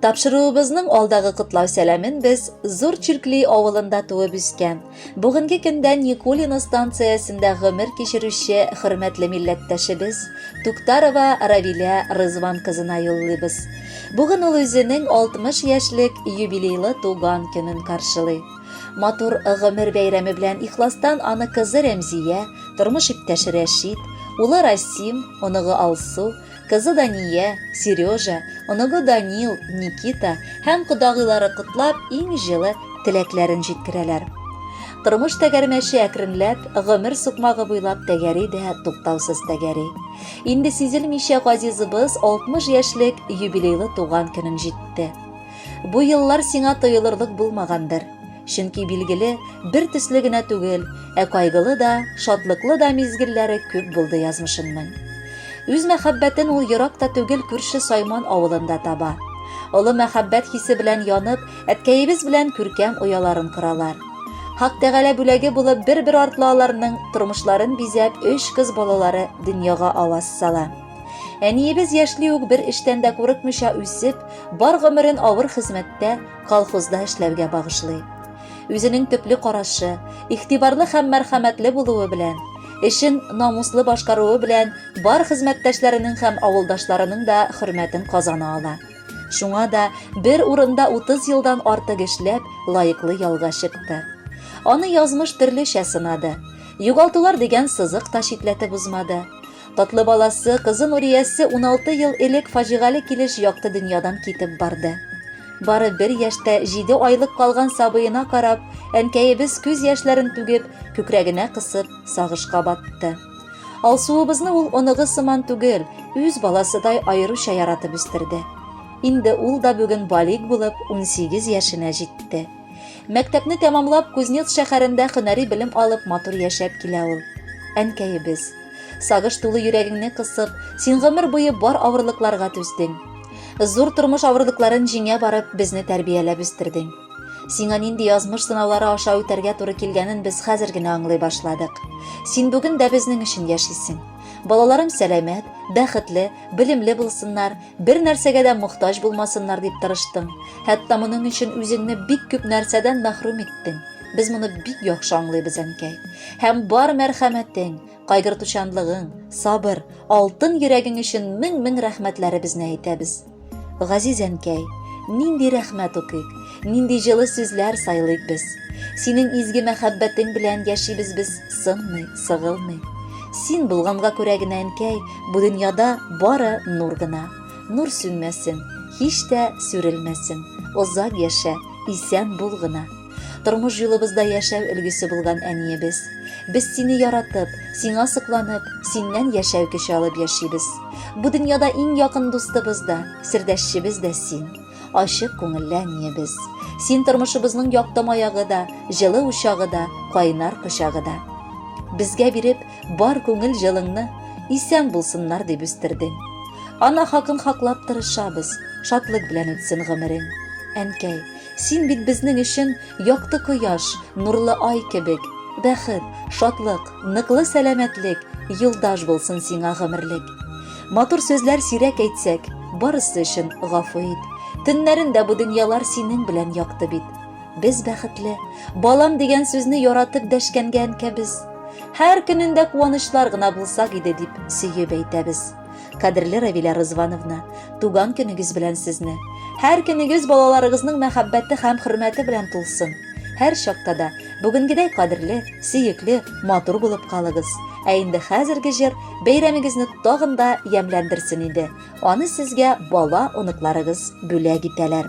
Тапшыруыбызның алдагы котлау сәламен без Зур Чиркли авылында туып үскән, бүгенге көндә Никулино станциясендә гомер кичерүче хөрмәтле милләттәшебез Туктарова Равилә Рызван кызына юллыйбыз. Бүген ул үзенең 60 яшьлек юбилейлы туган көнен каршылый. Матур гомер бәйрәме белән ихластан аны кызы Рәмзия, тормыш иптәше Рәшит, улы Расим, оныгы Алсу, Кызы Дания, Сережа, оныгы Данил, Никита һәм кодагыйлары котлап, иң җылы теләкләрен җиткерәләр. Тормыш тәгәрмәче әкренләп, гомер сукмагы буйлап тәгәри дә туктаусыз тәгәри. Инде сизелмичә газизыбыз 60 яшьлек юбилейлы туган көнен җитте. Бу еллар сиңа тоелырлык булмагандыр. Чөнки билгеле, бер төсле генә түгел, ә кайгылы да, шатлыклы да мизгелләре күп булды язмышымның. Үз мәхәббәтен ул ерак та түгел күрше Сайман авылында таба. Олы мәхәббәт хисе белән янып, әткәебез белән күркәм ояларын коралар. Хак Тәгалә бүләге булып бер-бер артлы аларның тормышларын бизәп, өч кыз балалары дөньяга аваз сала. Әниебез яшьли үк бер эштән дә курыкмыйча үсеп, бар гомерен авыр хезмәттә, колхозда эшләүгә багышлый. Үзенең төпле карашы, игътибарлы һәм мәрхәмәтле булуы белән, эшен намуслы башкаруы белән бар хезмәттәшләренең һәм авылдашларының да хөрмәтен казана ала. Шуңа да бер урында 30 елдан артык эшләп, лаеклы ялга чыкты. Аны язмыш төрлечә сынады. Югалтулар дигән сызык та читләтеп узмады. Татлы баласы, кызы Нуриясе 16 ел элек фаҗигале килеш якты дөньядан китеп барды. Бары бер яшьтә 7 айлык калган сабыена карап, әнкәебез күз яшьләрен түгеп, күкрәгенә кысып, сагышка батты. Алсуыбызны ул оныгы сыман түгел, үз баласыдай аеруча яратып үстерде. Инде ул да бүген балик булып 18 яшенә җитте. Мәктәпне тәмамлап, Кузнец шәһәрендә хөнәри белем алып, матур яшәп килә ул. Әнкәебез. Сагыш тулы йөрәгеңне кысып, син гомер буе бар авырлыкларга түздең. Зур тормыш авырлыкларын җиңә барып, безне тәрбияләп үстердең. Сиңа нинди язмыш сынаулары аша үтәргә туры килгәнен без хәзер генә аңлый башладык. Син бүген дә безнең өчен яшисең. Балаларың сәламәт, бәхетле, белемле булсыннар, Бер нәрсәгә дә мохтаҗ булмасыннар дип тырыштың. Хәтта моның өчен үзеңне бик күп нәрсәдән мәхрүм иттең. Без моны бик яхшы аңлыйбыз, әнкәй. Һәм бар мәрхәмәтең, кайгыртучанлыгың, сабыр, алтын йөрәгең өчен мең-мең рәхмәтләребезне әйтәбез. Газиз әнкәй, нинди рәхмәт укыйк? Нинди җылы сүзләр сайлыйк без. Синең изге мәхәббәтең белән яшибез без сынмый, сыгылмый. Син булганга күрә генә әнкәй, бу дөньяда бары нур гына. Нур сүнмәсен, һич тә сүрелмәсен. Озак яшә, исән бул гына. Тормыш юлыбызда яшәү өлгесе булган әниебез. Без сине яратып, сиңа сокланып, синнән яшәү көче алып яшибез. Бу дөньяда иң якын дустыбыз да, сердәшчебез дә син. Ачык күңелле әниебез. Син тормышыбызның якты маягы да, җылы учагы да, кайнар кочагы да. Безгә биреп, бар күңел җылыңны, исән булсыннар дип үстердең. Ана хакын хаклап тырышабыз, шатлык белән үтсен гомерең. Әнкәй, син бит безнең өчен якты кояш, нурлы ай кебек, бәхет, шатлык, Ныклы сәламәтлек, юлдаш булсын сиңа гомерлек. Матур сүзләр сирәк әйтсәк, барысы өчен гафу ит. Төннәрендә бу дөньялар синең белән якты бит. Без бәхетле, балам дигән сүзне яратып дәшкәнгә әнкәбез. Һәр көнендә куанычлар гына булсак иде дип сөеп әйтәбез. Кадерле Равилә Рызвановна, туган көнегез белән сезне. Һәр көнегез балаларыгызның мәхәббәте һәм хөрмәте белән тулсын. Һәр чакта да бүгенгедәй кадерле, сөекле, матур булып калыгыз. Ә инде хәзерге җыр бәйрәмегезне тагын да ямьләндерсен иде. Аны сезгә бала оныкларыгыз бүләк итәләр.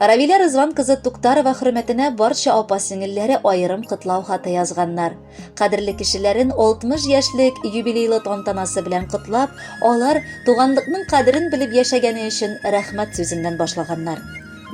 Равилә Рызван кызы Туктарова хөрмәтенә барча апа-сеңелләре аерым котлау хаты язганнар. Кадерле кешеләрен 60 яшьлек юбилейлы тантанасы белән котлап, алар туганлыкның кадерен белеп яшәгәне өчен рәхмәт сүзеннән башлаганнар.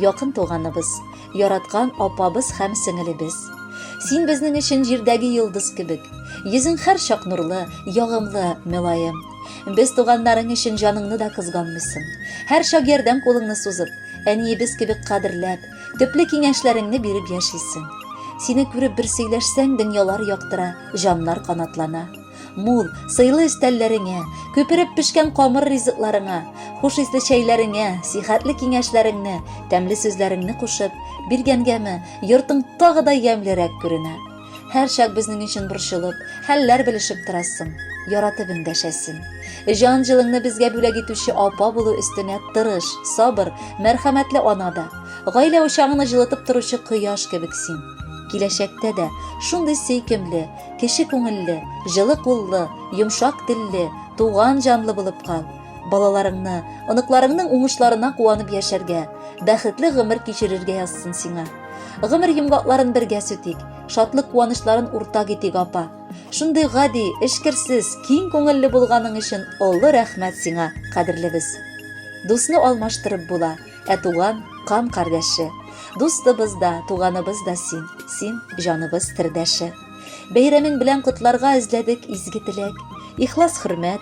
Якын туганыбыз, яраткан апабыз һәм сеңелебез. Син безнең өчен җирдәге йолдыз кебек. Йөзең һәрчак нурлы, ягымлы, мөлаем. Без туганнарың өчен җаныңны да кызганмыйсың. Һәр чак ярдәм кулыңны сузып, әниебез кебек кадерләп, төпле киңәшләреңне биреп яшисең. Сине күреп бер сөйләшсәң, дөньялар яктыра, җаннар канатлана. Мул, сыйлы өстәлләреңә, күпереп пешкән камыр ризыкларыңа, хуш исле чәйләреңә, сихәтле киңәшләреңне, тәмле сүзләреңне кушып, биргәнгәме, йортың тагы да ямьлерәк күренә. Һәрчак безнең өчен борчылып, хәлләр белешеп торасың, яратып эндәшәсең. Җан җылыңны безгә бүләк итүче апа булу өстенә тырыш, сабыр, мәрхәмәтле ана да, гаилә учагыңны җылытып торучы кояш кебек син. Киләчәктә дә шундый сөйкемле, кече күңелле, җылы куллы, йомшак телле, туган җанлы булып кал. Балаларыңны, оныкларыңның уңышларына куанып яшәргә, бәхетле гомер кичерергә язсын сиңа. Гомер йомгакларын бергә сүтик, шатлык куанычларын уртак итик, апа. Шундый гади, эшкерсез, киң күңелле булганың өчен олы рәхмәт сиңа, кадерлебез. Дусны алмаштырып була, ә туган, кан кардәше. Дустыбыз да, туганыбыз да син, син җаныбыз тердәше. Бәйрәмең белән котларга эзләдек изге теләк. Ихлас хөрмәт,